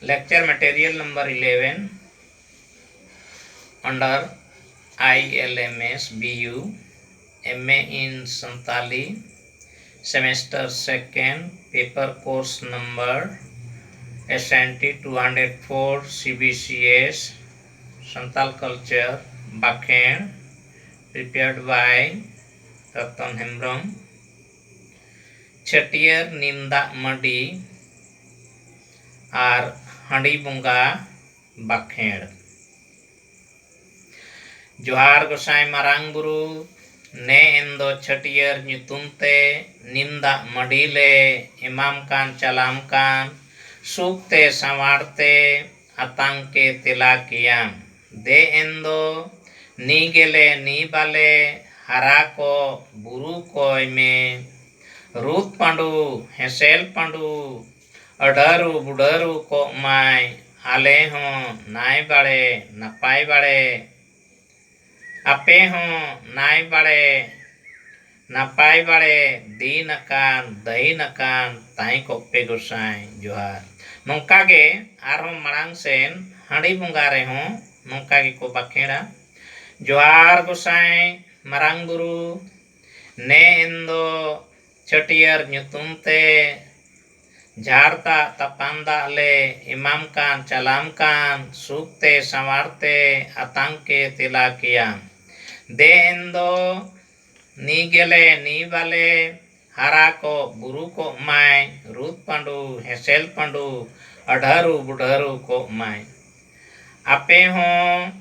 Lecture material number eleven under I L M S B U M A in Santali semester second paper course number S N T two hundred four C B C S Santal culture ᱵᱟᱸᱠᱷᱮᱲ prepared by Rotan Hembrom ᱪᱷᱟᱹᱴᱭᱟᱹᱨ ᱱᱤᱢ ᱫᱟᱜ ᱢᱟᱹᱰᱤ ᱟᱨ ᱦᱟᱺᱰᱤ ᱵᱚᱸᱜᱟ ᱵᱟᱠᱷᱮᱬ᱾ ᱡᱚᱦᱟᱨ ᱜᱚᱸᱥᱟᱭ ᱢᱟᱨᱟᱝ ᱵᱩᱨᱩ ᱱᱮ ᱮᱱ ᱫᱚ ᱪᱷᱟᱹᱴᱭᱟᱹᱨ ᱧᱩᱛᱩᱢ ᱛᱮ ᱱᱤᱢ ᱫᱟᱜ ᱢᱟᱹᱰᱤ ᱞᱮ ᱮᱢᱟᱢ ᱠᱟᱱ ᱪᱟᱞᱟᱢ ᱠᱟᱱ ᱥᱩᱠ ᱛᱮ ᱥᱟᱶᱟᱨ ᱛᱮ ᱟᱛᱟᱝ ᱯᱮ ᱛᱮᱞᱟ ᱠᱮᱭᱟᱢ᱾ ᱫᱮ ᱮᱱ ᱫᱚ ᱱᱤ ᱜᱮᱞᱮ ᱱᱤ ᱵᱟᱞᱮ ᱦᱟᱨᱟ ᱠᱚᱜ ᱵᱩᱨᱩ ᱠᱚᱭ ᱢᱮ᱾ ᱨᱩᱫ ᱯᱟᱸᱰᱩ ᱦᱮᱸᱥᱮᱞ ᱯᱟᱸᱰᱩ ᱟᱹᱰᱟᱹᱨᱩ ᱵᱩᱰᱟᱹᱨᱩ ᱠᱚᱜ ᱢᱟᱭ ᱟᱞᱮ ᱦᱚᱸ ᱱᱟᱭ ᱵᱟᱲᱮ ᱱᱟᱯᱟᱭ ᱵᱟᱲᱮ᱾ ᱟᱯᱮ ᱦᱚᱸ ᱱᱟᱭ ᱵᱟᱲᱮ ᱱᱟᱯᱟᱭ ᱵᱟᱲᱮ ᱫᱤᱱ ᱟᱠᱟᱱ ᱫᱟᱹᱦᱤᱱ ᱟᱠᱟᱱ ᱛᱟᱦᱮᱸ ᱠᱚᱜ ᱯᱮ ᱜᱚᱸᱥᱟᱭ ᱡᱚᱦᱟᱨ ᱱᱚᱝᱠᱟ ᱜᱮ ᱟᱨ ᱦᱚᱸ ᱢᱟᱲᱟᱝ ᱥᱮᱱ ᱦᱟᱺᱰᱤ ᱵᱚᱸᱜᱟ ᱨᱮ ᱦᱚᱸ ᱱᱚᱝᱠᱟ ᱜᱮ ᱠᱚ ᱵᱟᱠᱷᱮᱬᱟ ᱡᱚᱦᱟᱨ ᱜᱚᱸᱥᱟᱭ ᱢᱟᱨᱟᱝ ᱵᱩᱨᱩ ᱱᱮ ᱮᱱ ᱫᱚ ᱪᱷᱟᱹᱴᱭᱟᱹᱨ ᱧᱩᱛᱩᱢ ᱛᱮ ᱡᱷᱟᱲ ᱫᱟᱜ ᱛᱟᱯᱟᱱ ᱫᱟᱜ ᱞᱮ ᱮᱢᱟᱢ ᱠᱟᱱ ᱪᱟᱞᱟᱢ ᱠᱟᱱ ᱥᱩᱠ ᱛᱮ ᱥᱟᱶᱟᱨ ᱛᱮ ᱟᱛᱟᱝ ᱠᱮ ᱛᱮᱞᱟ ᱠᱮᱭᱟᱢ ᱫᱮ ᱮᱱ ᱫᱚ ᱱᱤ ᱜᱮᱞᱮ ᱱᱤ ᱵᱟᱞᱮ ᱦᱟᱨᱟ ᱠᱚᱜ ᱵᱩᱨᱩ ᱠᱚᱜ ᱢᱟᱭ ᱨᱩᱫᱽ ᱯᱟᱺᱰᱩ ᱦᱮᱸᱥᱮᱞ ᱯᱟᱺᱰᱩ ᱟᱹᱰᱷᱟᱹᱨᱩ ᱵᱩᱰᱷᱟᱹᱨᱩ ᱠᱚᱜ ᱢᱟᱭ ᱟᱯᱮ ᱦᱚᱸ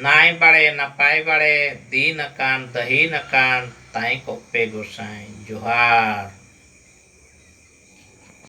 ᱱᱟᱭ ᱵᱟᱲᱮ ᱱᱟᱯᱟᱭ ᱵᱟᱲᱮ ᱫᱤᱱ ᱟᱠᱟᱱ ᱫᱟᱹᱦᱤᱱ ᱟᱠᱟᱱ ᱛᱟᱦᱮᱸ ᱠᱚᱜ ᱯᱮ ᱜᱚᱸᱥᱟᱭ ᱡᱚᱦᱟᱨ᱾